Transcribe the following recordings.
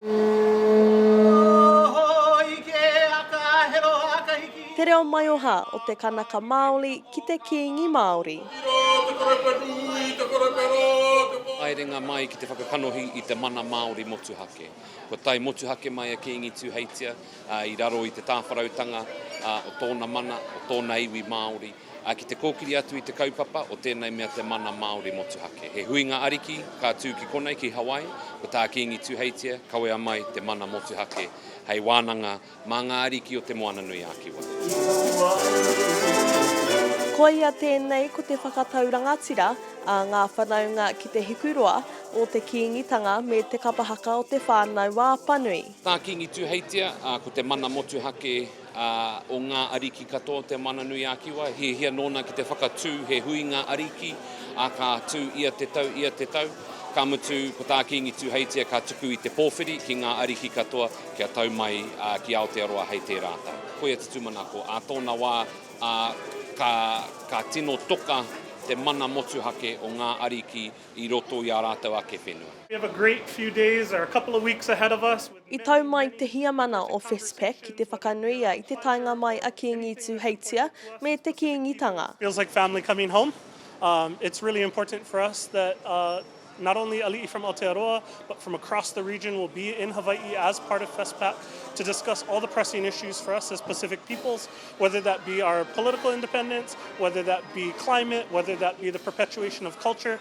Te reo maioha o te Kanaka Maoli ki te Kiingi Maori. Haerenga mai ki te whakakanohi i te mana Maori motuhake. Kua tae motuhake mai a Kiingi Tuheitia i raro i te tāwharautanga o tōna mana, o tōna iwi Maori. Ā, ki te kōkiri atu i te kaupapa o tēnei mea te mana Māori motuhake, he huinga ariki ka tū ki konei, ki Hawaii, ko tā Kīngi Tuheitia, kawea mai te mana motuhake hei wānanga mā ngā ariki o Te Moananui-a-Kiwa. Koia tēnei ko te whakatau rangatira a ngā whanaunga ki te hikuroa o te Kīngitanga me te kapa haka o te whānau Wāpanui. Tā Kīngi Tuheitia, ā, ko te mana motuhake Ā, o ngā ariki katoa o te Mana-nui-ā-Kiwa, hiahia nōna ki te whakatū he huinga ariki, ā, ka tū ia te tau, ia te tau. Ka mutu, ko tā Kīngi Tūheitia ka tuku i te pōwhiri ki ngā ariki katoa kia tau mai ki Aotearoa hei tērā tau. Koia te tūmanako ā tōna wā, ā, ka, ka tino toka te mana motuhake o ngā ariki i roto i ā rātou ake whenua. I tau mai te Heamana o Westpac ki te whakanuia i te taenga mai a Kīngi Tūheitia me te Kīngitanga. Feels like family coming home, it's really important for us that not only ali'i from Aotearoa but from across the region will be in Hawai'i as part of Westpac to discuss all the pressing issues for us as Pacific peoples, whether that be our political independence, whether that be climate, whether that be the perpetuation of culture.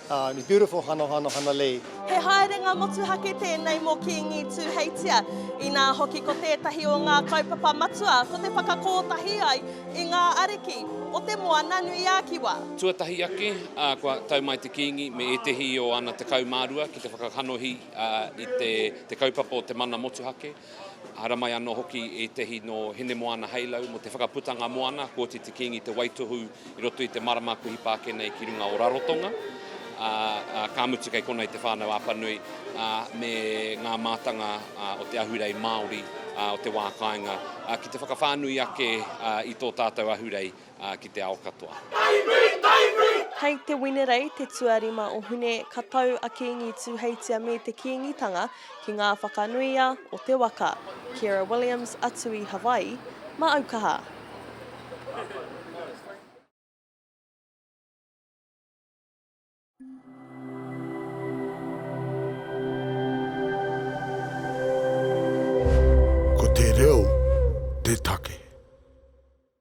Ahh it's beautiful hana hana hana lei. He haerenga motuhake tēnei mō Kīngi Tūheitia, inā hoki ko tētahi o ngā kaupapa matua ko te whakakōtahi ai i ngā ariki o te Moana-nui-ā-Kiwa. Tuatahi ake, kua tau mai te Kīngi me ētehi o ana 12 ki te whakakanohi i te kaupapa o te mana motuhake. Haramai anō hoki ētahi nō Hinemoana Halo mō te whakaputanga moana, koti te Kīngi te waitohu i roto i te marama kuhi pā ake nei ki runga o Rarotonga, ā, ka mutu kei konei te whānau Apanui, ā, me ngā mātanga o te ahurei Māori o te wā kāinga, ā, ki te whakawhānui ake i tō tātou ahurei. ki te ao katoa. Hei te Winerei, te tuarima o Hune, ka tau a Kingi Tuheitia me te Kingitanga ki ngā whakanuia o te waka. Ciara Williams, a Tui Hawaii, ma aukaha. Ko te reo te take.